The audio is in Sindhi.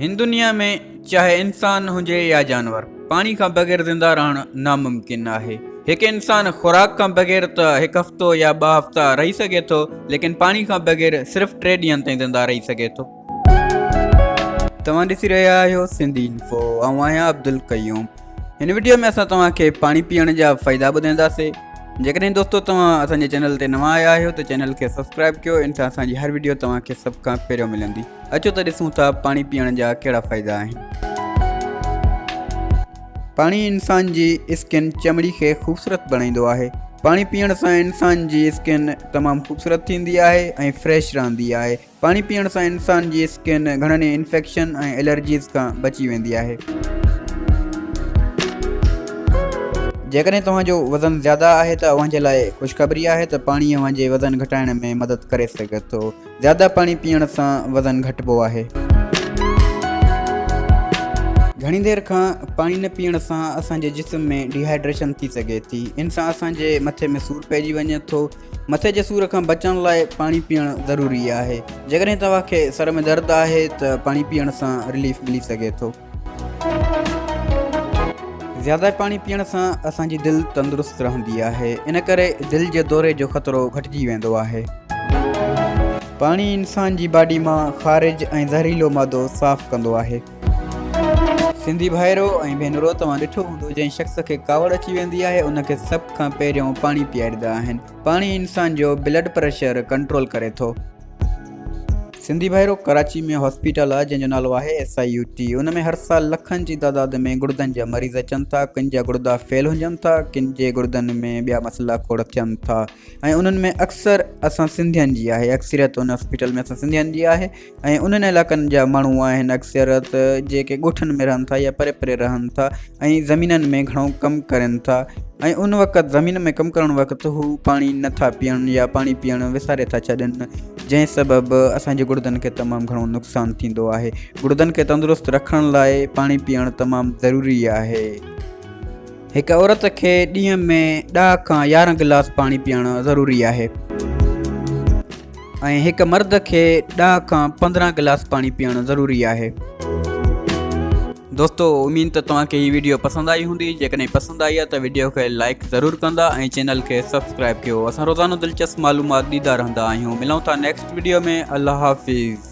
هن دنيا ۾ چاهي انسان هجي يا جانور پاڻي کان بغير زنده رهڻ ناممڪن آهي هڪ انسان خوراڪ کان بغير ته هڪ هفتو يا ٻه هفتا رهي سگهي ٿو ليڪن پاڻي کان بغير صرف ٽي ڏينهن تائين زنده رهي سگهي ٿو توهان ڏسي رهيا آهيو سنڌي انفو آئون آهيان عبدالقيوم هن ويڊيو ۾ اسان توهان کي پاڻي پيئڻ جا فائدا ٻڌائينداسي جيڪڏهن دوستو توهان اسان جي چينل تي نوان آيا آهيو ته چينل کي سبسڪرائب ڪيو ان سان اسان جي هر ويڊيو توهان کي سڀ کان پهريون ملندي اچو ته ڏسون ٿا پاڻي پيئڻ جا ڪهڙا فائدا آهن. پاڻي انسان جي اسڪن، چمڙي، کي خوبصورت بڻائيندو آهي. پاڻي پيئڻ سان انسان جي اسڪن تمام خوبصورت ٿيندي آهي ۽ فريش رهندي آهي. پاڻي پيئڻ سان انسان جي اسڪن گهڻن ئي انفيڪشن ۽ الرجيز کان بچي ويندي آهي. جيڪڏهن توهان جو وزن زياده آهي ته اوهان جي لاء خوشخبري آهي ته پاڻي اوهان جي وزن گهٽائڻ ۾ مدد ڪري سگهي ٿو. زياده پاڻي پيئڻ سان وزن گهٽبو آهي. گهڻي دير کان پاڻي نه پيئڻ سان اسان جي جسم ۾ ڊي هائيڊريشن ٿي سگهي ٿي. ان سان اسان جي مٿي ۾ سور پئجي وڃي ٿو. مٿي جي سور کان بچڻ لاء پاڻي پيئڻ ضروري آهي. جيڪڏهن توهان کي سر ۾ درد آهي ته پاڻي پيئڻ سان رليف ملي سگهي ٿو. زياده پاڻي پيئڻ سان اسان جي دل تندرست رهندي آهي ان ڪري دل جي دوري جو خطرو گهٽجي ويندو آهي. پاڻي انسان جي باڊي مان خارج ۽ زهريلو مادو صاف ڪندو آهي. سنڌي ڀائرو ۽ ڀينرو توهان ڏٺو هوندو جنهن شخص کي ڪاوڙ اچي ويندي آهي ان کي سڀ کان پهريون پاڻي پياريندا آهن پاڻي انسان جو بلڊ پريشر ڪنٽرول ڪري ٿو. سنڌي ڀائرو ڪراچي ۾ هاسپيٽل آهي جنهن جو نالو آهي ايس آء يو ٽي ان ۾ هر سال لکن جي تعداد ۾ گڙدن جا مريض اچن ٿا ڪن جا گڙدا فيل هجن ٿا ڪن جي گڙدن ۾ ٻيا مسئلا کوڙ ٿين ٿا ۽ انهن ۾ اڪثر اسان سنڌين جي آهي اڪثريت ان هاسپيٽل ۾ اسان سنڌين جي آهي ۽ انهن علائقن جا ماڻهو آهن اڪثريت جيڪي ڳوٺن ۾ رهن ٿا يا پري پري رهن ٿا ۽ زمينن ۾ گهڻو ڪم ڪرين ٿا ۽ ان وقت زمين ۾ ڪم ڪرڻ وقت هو پاڻي نٿا پيئن يا پاڻي پيئڻ وساري ٿا ڇڏن جنهن سبب اسان جي گڙدن کي تمام گهڻو نقصان ٿيندو آهي. گڙدن کي تندرست رکڻ لاء پاڻي پيئڻ تمام ضروري آهي. هڪ عورت کي ڏينهن ۾ ڏهه کان يارهن گلاس پاڻي پيئڻ ضروري آهي ۽ هڪ مرد کي ڏهه کان پندرهن گلاس پاڻي پيئڻ ضروري آهي. دوستو اميد ته توهان کي هي ويڊيو پسند آئي هوندي جيڪڏهن پسند آئي آهي ته ويڊيو کي لائڪ ضرور ڪندا ۽ چينل کي سبسڪرائب ڪيو اسان روزانو دلچسپ معلومات ڏيندا رهندا آهيون ملون ٿا نيڪسٽ ويڊيو ۾ الله حافظ